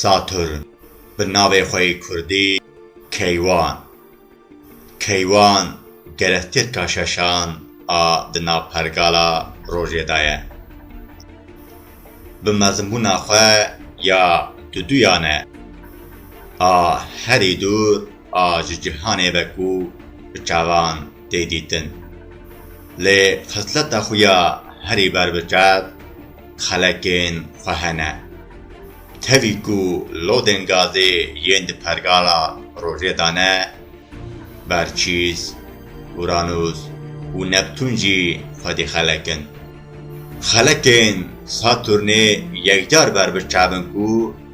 Saturn, bi navê xwe yê kurdî Keywan Keywan gere tirka şeşan a di nav pergala rojê de ye. Bi mezinbûna xwe ya du duyan e. A herî dûr a ji cîhanê ve ku bi çavan tê dîtin. Lê xisleta xwe ya herî berbiçav xelekên xwe hene. Tevî ku lodên gazê yên di pergala rojê de ne, berçîs, uranûs û neptûn jî xwedî xelekin. Xelekên Satûrnê yekcar berbiçavin ku,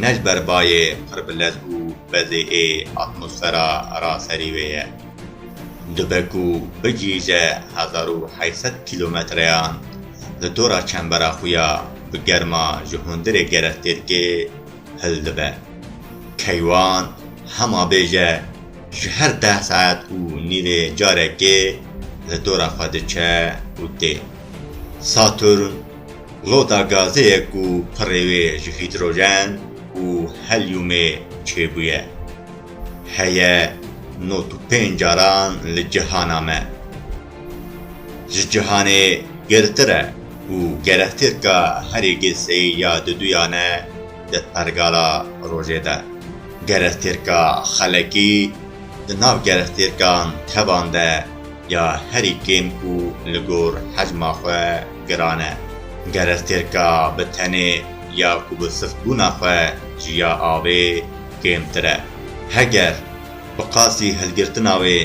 Ne ji ber bayê qirbilez û bezê ê atmosfera ra serî wê ye. Dibe ku bigihîje hezar û heşt sed kîlometreyan li dora çembera xwe ya bi germa ji hundirê gerestêrkê hil dibe. Keywan hema bêje ji her deh saet û nîvê carekê li dora xwe diçe û tê. Saturn Rota gazê ye ku pirê wê ji hîdrojen û helyûmê çêbûye. Heye not û pênc caran li cihana me. Ji cihanê girtir e û gerehtêrka herî gêseyî ya diduyan e di pergala rojê de. Gerehtêrka xelekî di nav gerehtêrkan kevan de ya herî kêm û li gor hecma xwe, Giran e. Ger ez têrka bi tenê ya ku bi siftbûna xwe ji ya avê kêmtir e. Heger bi qasî hilgirtina wê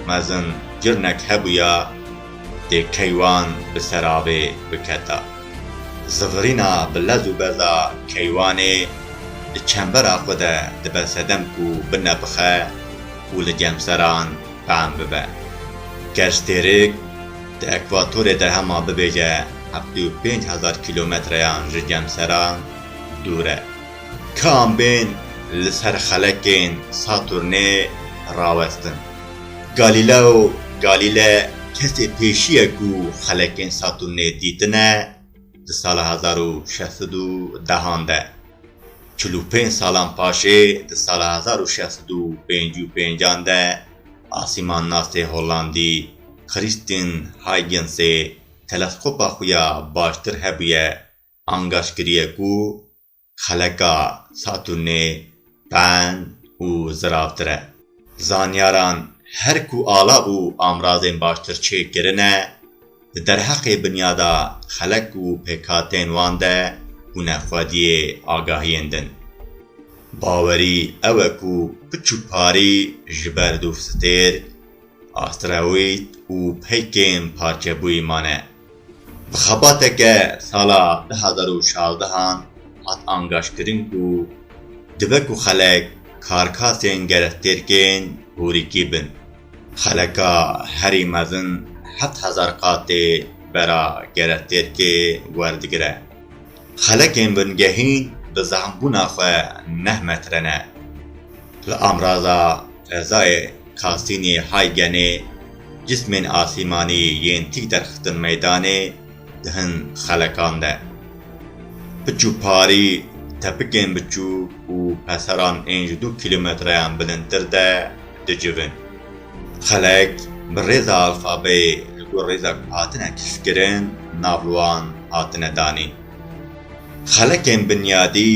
mezin cirinek hebûya dê keywan bi ser avê biketa. Zivirîna bi lez û beza keywanê di çembera xwe de dibe sedem ku binepixe û li cemseran fehm bibe. Ger ji têrik Di ekvatorê de hema bibêje heftê û pênc hezar kîlometreyan ji cemseran dûr e. Ka em bên li ser xelekên Saturnê rawestin. Galîleo Galîle kesê pêşî ye ku xelekên Saturnê dîtine di sala hezar û şeş sed û dehan de. Çil û pênc salan paşê di sala hezar û şeş sed û pêncî û pêncan de Asîmannasê Hollandî Christien Huygens-ê teleskopa xwe ya baştir hebûye angaç kiriye ku xeleka Saturnê ben û ziravtir e. Zanyaran her ku ala bû amrazên baştir çêkirine, Di derheqê binyada xelek û pêkhatên wan de bûne xwediyê agahiyên din. Bawerî ew e ku piçû parî ji ber dûvstêrk, asteroîd û peykên parçebûyî mane. Bi xebateke sala du hezar û şazdeh an hat angaşkirin ku dibe ku xelek karkasên gerestêrkên hûrîkî bin. Xeleka herî mezin heft hezar qatê bera geretêrkê werdigire. Xelekên bingehîn bi zehmbûna xwe neh metre ne. Li amraza fezayê Kasînî Haygenê cismên asîmanî yên tîk derxistin meydanê, Di hin xelekan de piç û parî, tepikên biçûk û peseran ên ji du kîlometreyan bilindtir de dicivin. Xelek bi rêza alfabeyê li gor rêza ku hatine kişkirin nav li wan hatine danîn. Xelekên binyadî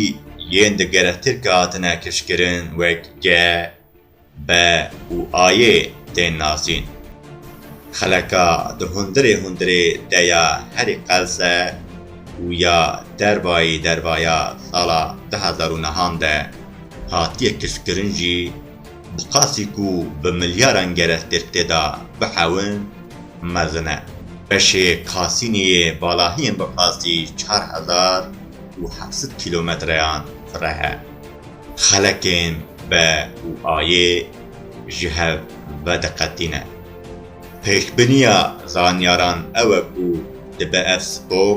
yên di gerestêrkê hatine kişkirin wek G, Be û ayê tên nasîn. Xeleka di hundirê hundirê de ya herî qelse û ya dervayî dervaya sala du hezar û nehan de hatiye kifkirin jî bi qasî ku bi milyaran gerestêr tê de bihewin mezin e. Beşê Kasînê yê balahiyên bi qasî çar hezar û heft sed kîlometreyan fireh e. Xelekên be û ayê ji hev vediqetîne. Pêşbiniya zanyaran ew e ku dibe ev spor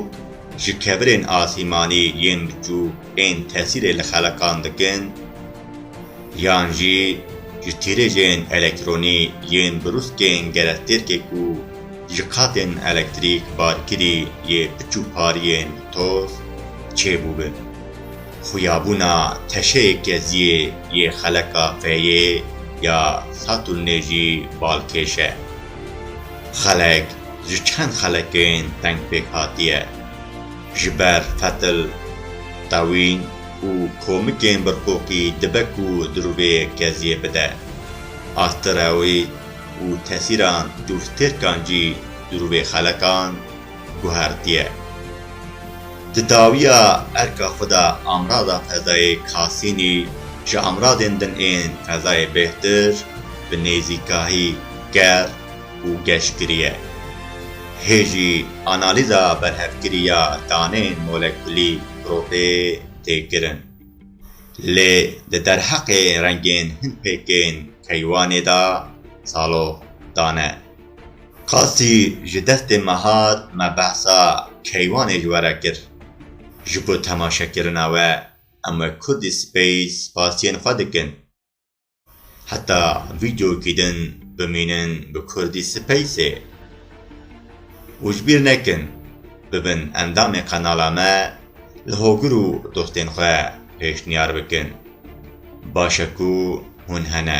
ji kevirên asîmanî yên biçûk ên tesîrê li xelekan dikin yan jî ji tîrêjên elektronî yên brûskên gerestêrkê ku ji qatên elektrîk barkirî yê piç û pariyên bi toz çêbûbin. Xuyabûna teşeyê keziyê yê xeleka feyê ya Satûrnê jî balkêş e. Xelek ji çend xelekên teng pêk hatiye. Ji ber fetil, tewîn û komikên birqoqî dibe ku dirûvê keziyê bide. Asteroîd û tesîran dûrtêrkan jî dirûvê xelekan guhertiye. Di dawiya erka xwe de amrada fezayê Kasînî ji amradên din ên fezayê bêhtir, bi nêzîkahî ger û geşkirî ye. Hê jî analîza berhevkirî ya danên molekulî grûpê tê kirin. Lê di derheqê rengên hin pêkên keywanê de salox dane. Qasî ji destê me hat me behsa keywanê ji we re kir. Ji bo temaşekirina we em wek Kurdî Space spasiyên xwe dikin. Heta vîdyokî din bimînin bi Kurdî Spaceê. Û ji bîr nekin bibin endamê qenala me li hogir û dostên xwe pêşniyar bikin. Baş e ku hûn hene.